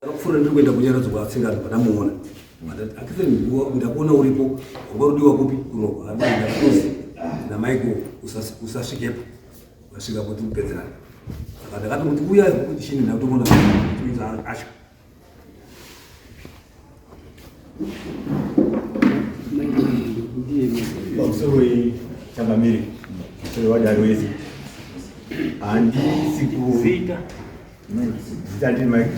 Ndakapfuura ndiri kuenda kunyaradzo kwatsingani pandamuona. Akitheni nguva ndakuona uripo wanga udiwa kupi kunohwa ndakuzi namaiko usasvikepo vasvika kuti kupedzerana. Saka ndakati kuti uya kuti chini ndakutoona kuti acho handisi kuzita ndiri mike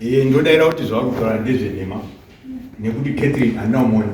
ee ndodaira kuti zvakutaura ndezvenhema nekuti catherine handina umona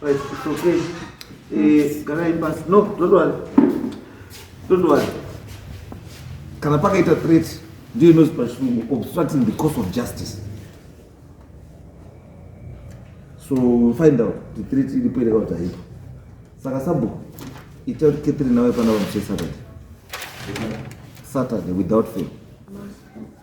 Right, it's okay. Eh, gara imbasi. No, don't worry. Don't worry. Kana pakaita threat ndiyo inozi pachirungu obstructing the course of justice. So we'll find out the threat iripo ere kana kuti haipo. Saka sabhuku ita kuti Catherine nawe pana vamuche Saturday. Saturday without fail.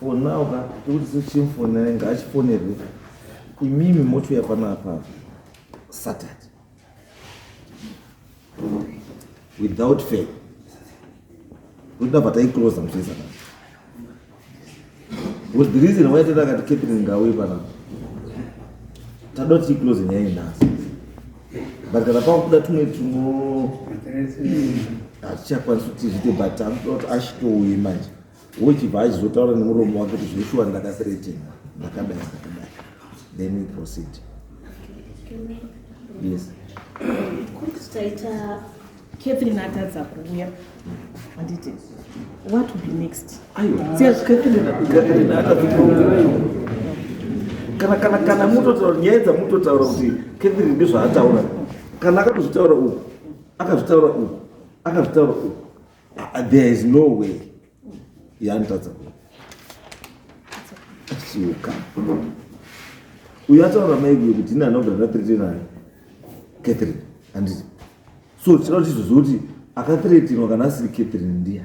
Fonau ka tikuti sochimfonai ngaachifonerwe imimi motouya panapa saturday without fail kuita pataiclosa muchisa kana because the reason why tata akati catherine ngauye pana tadoti iclose nyaya inhasi but kana pakuda tumwe tumo hatichakwanisi kuti zviite but taakuda kuti ashitouye manje wochibva achizotaura nemuromo wake kuti zveshuwa ndakasiretenga ndakadai ndakadai then we proceed yes taita catherine atadza kuuya handiti what will be next kana kana kana mutotaura nyaya dzamutotaura kuti catherine ndizvaataura kana akatozvitaura uku akazvitaura uku akazvitaura uku Ah, there is no way yanitadza suka uyo ataura maiguyo kuti ini anogara natrete naye catherine anditi so tinoda tizoziva kuti akathretinwa kana asiri catherine ndiya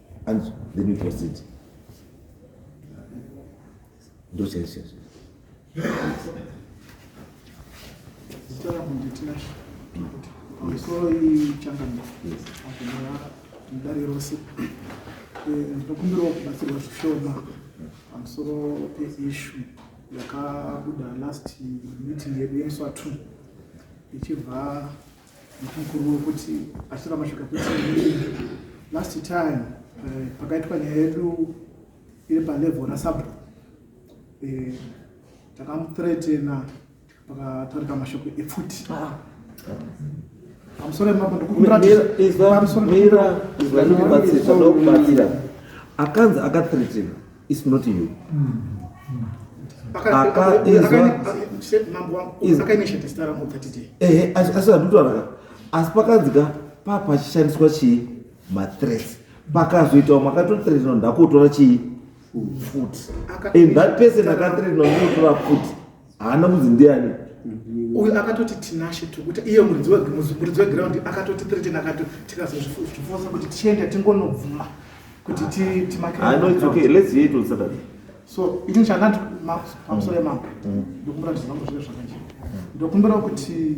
and let me proceed ndo chaizvezvo misoro ichangana akunaa mudare rose ndinokumbirawo eh, kubatsirwa zvishoma pamusoro peishu yakabuda last meeting yedu yemuswa two ichibva Mukuru wekuti atora mashoko ekuti last time eh, pakaitwa nyaya yedu iri palevel rasabro eh, takamutretena pakataurika mashoko epfuti ah. pamusoro emambo ndikukuratidza akanzi akatretena It's not you. Ehe, asi asi handutauraka. Asi pakanzika pa pachishandiswa chii mathreats. Pakazoitawo makatothreatenwa ndakutora chii futi. And that person akathreatenwa ndokutora futi. haana kunzi ndiani mm-hmm. uyu akatoti tinashe tukuta iye muridzi wegiraundi akatoti threaten akati tikazozvifosa kuti tiende tingonobvuma kuti timakeanoitsokayletsyeitosaturday so ini chandati makusole mambo mm. ndokumbira kuti zvangu zvive zvakanje ndokumbirawo kuti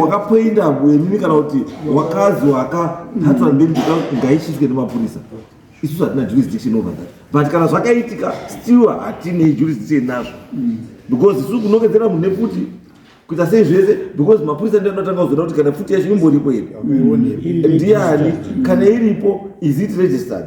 wakapoinda wenini kana kuti wakazi wakahatswa mm. ndeni ngaishiswe nemapurisa isusu hatina jurisdiction over that but kana zvakaitika still hatine jurisdiction nazvo mm. because isusu kunongedzera munhu nefuti kuita sei zvese because mapurisa ndi anotanga kuzoda kuti kana futi yacho imboripo here mm. ndiani kana iripo is it registered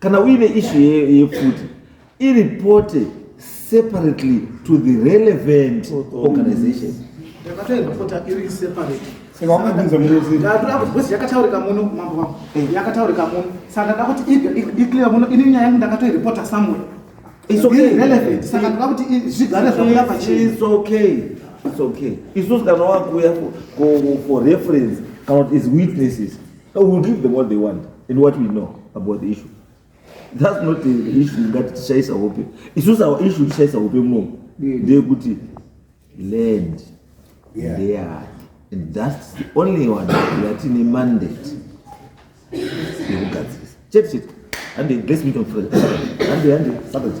kana uine ishu yefuti iripote separately to the relevant organization yakataurika muno mambo vangu eh. yakataurika muno saka ndada kuti iclear muno ini nyaya yangu ndakatoiripota somewhere irrelevant saka ndada kuti zvigare zvakuya pachis okay its okay isusu kana wakuya for reference kana kuti is witnesses We will give them what they want and what we know about the issue. That's not the, the issue ngati tishaisa hope. Isusu our issue tishaisa hope muno ndeyekuti land yeah. ndeyani and that's the only one yatine mandate yekugadzirisa chete chete hande let's meet on friday hande hande saturday